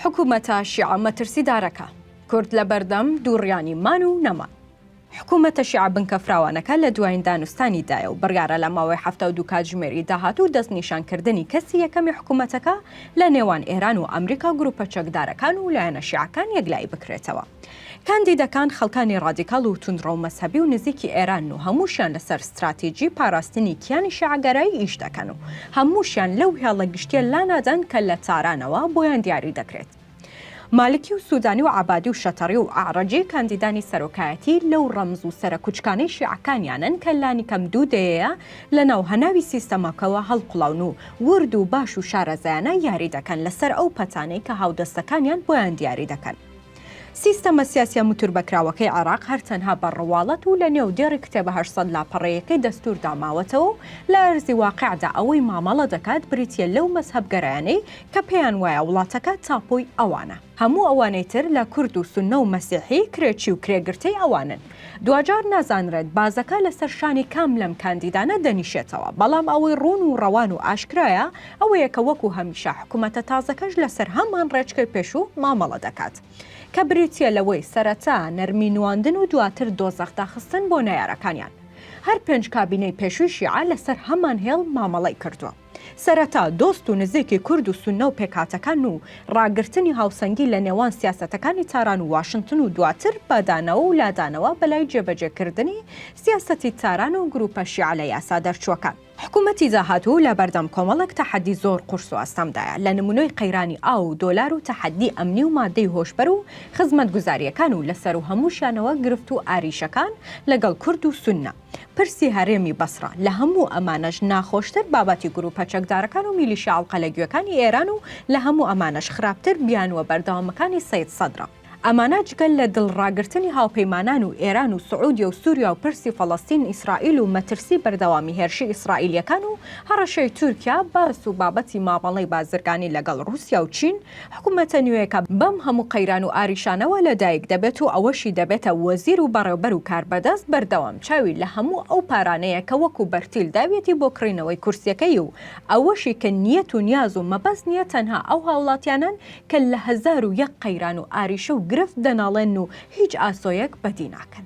حکومەتە شیعە مەترسیدارەکە. کورد لە بەردەم دووڕیانی مان و نەمان. حکومەتە شیعە بنکە فراوانەکە لە دوایین دانوستانی دایە و بڕیارە لە ماوەی حەفتا و دوو کاتژمێری داهاتوو دەستنیشان کردنی کەسی یەکەمی حکومەتەکە لە نێوان ئێران و ئەمریکا گروپە چەکدارەکان و لایەنە شیعەکان یەکلایی بکرێتەوە. کاندیدەکان خەڵکانی ڕادیکاڵ و توندڕەو مەزهەبی و نزیکی ئێرانن و هەمووشیان لەسەر ستراتیجی پاراستنی کیانی شیعەگەرایی ئیش دەکەن و هەمووشیان لەو هێڵە گشتیە لانادەن کە لە تارانەوە بۆیان دیاری دەکرێت. مالکی و سودانی و عەبادی و شەتەڕی و ئەعرەجی کاندیدانی سەرۆکایەتی لەو ڕەمز و سەرە کوچکانەی شیعەکانیانن کە لانیکەم دوو دەیەیە لەناو هەناوی سیستەمەکەوە هەڵقوڵاون و ورد و باش و شارەزایانە یاری دەکەن لەسەر ئەو پەتانەی کە هاودەستەکانیان بۆیان دیاری دەکەن. سیستەمە سیاسیە متوربەکراوەکەی عێراق هەر تەنها بە ڕواڵەت و لە نێو دێڕی کتێبە هەشت سەد لاپەڕەیەکەی دەستوردا ماوەتەوە و لە ئەرزی واقعدا ئەوەی مامەڵە دەکات بریتیە لەو مەزهەبگەرایانەی کە پێیان وایە وڵاتەکە تاپۆی ئەوانە، هەموو ئەوانەی تر لە کورد و سوننە و مەسیحی کرێچی و کرێگرتەی ئەوانن. دواجار نازانرێت بازەکە لەسەر شانی کام لەم کاندیدانە دەنیشێتەوە، بەڵام ئەوەی ڕوون و ڕەوان و ئاشکرایە ئەوەیە کە وەکو هەمیشە حکومەتە تازەکەش لەسەر هەمان ڕێچکەی پێشوو مامەڵە دەکات کە بریتیە لەوەی سەرەتا نەرمی نواندن و دواتر دۆزەخ داخستن بۆ نەیارەکانیان هەر پێنج کابینەی پێشووی شیعە لەسەر هەمان هێڵ مامەڵەی کردووە. سەرەتا دۆست و نزیکی کورد و سوننە و پێکهاتەکان و ڕاگرتنی هاوسەنگی لە نێوان سیاسەتەکانی تاران و واشنتن و دواتر بە دانەوە و لادانەوە بەلای جێبەجێکردنی سیاسەتی تاران و گروپە شیعە لە یاسا دەرچووەکان. حکومەتی داهاتوو لە بەردەم کۆمەڵێک تەحەدی زۆر قورس و ئەستەمدایە، لە نمونەی قەیرانی ئاو و دۆلار و تەحەدی ئەمنی و مادەی هۆشبەر و خزمەتگوزارییەکان و لە سەروو هەمووشیانەوە گرفت و ئاریشەکان لەگەڵ کورد و سوننە. پرسی هەرێمی بەسڕە، لە هەموو ئەمانەش ناخۆشتر بابەتی گرووپە چەکدارەکان و میلیشیا عەڵقەلەگوێکانی ئێران و لە هەموو ئەمانەش خراپتر بیانووە بەردەوامەکانی سەید سەدرە. ئەمانە جگە لە دڵڕاگرتنی هاوپەیمانان و ئێران و سعودیە و سوریا و پرسی فەڵەستین ئیسرائیل و مەترسی بەردەوامی هێرشی ئیسرائیلییەکان و هەڕەشەی تورکیا، باس و بابەتی مامەڵەی بازرگانی لەگەڵ ڕووسیا و چین حکومەتە نوێیەکە بەم هەموو قەیران و ئاریشانەوە لە دایک دەبێت و ئەوەشی دەبێتە وەزیر و بەڕێوبەر و کاربەدەست بەردەوام چاوی لە هەموو ئەو پارانەیە کە وەکو بەرتیل داویەتی بۆ کڕینەوەی کورسیەکەی و ئەوەشی کە نیەت و نیاز و مەبەست نیە تەنها ئەو هاوڵاتیانەن کە لە هەزار و یەک قەیران و ئاریشە و گرفت دەناڵێنن و هیچ ئاسۆیەک بەدی ناکەن.